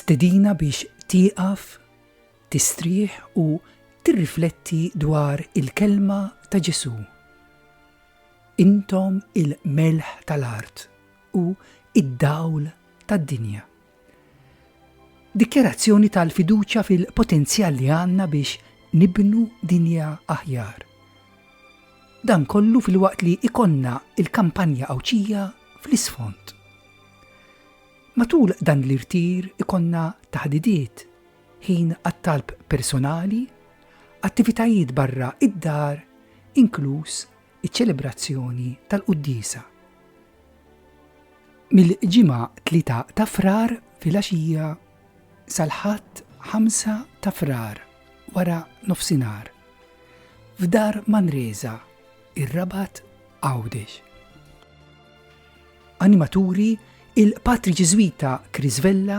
stedina biex tieqaf, tistrieħ u tirrifletti dwar il-kelma ta' Ġesu. Intom il-melħ tal-art u d-dawl tad-dinja. Dikjarazzjoni tal-fiduċja fil-potenzjal li għandna biex nibnu dinja aħjar. Dan kollu filwaqt li jkollna l-kampanja Għawdxija fl-isfond. Matul dan l-irtir ikollna taħdidiet ħin għat-talb personali, attivitajiet barra id-dar, inkluż iċ-ċelebrazzjoni tal-quddiesa. Mill-Ġimgħa 3 ta' Frar filgħaxija sal-Ħadd 5 ta' Frar wara nofsinhar f'dar Manresa, ir-Rabat Għawdex. Animaturi il-Patri Ġiżwita Chris Vella,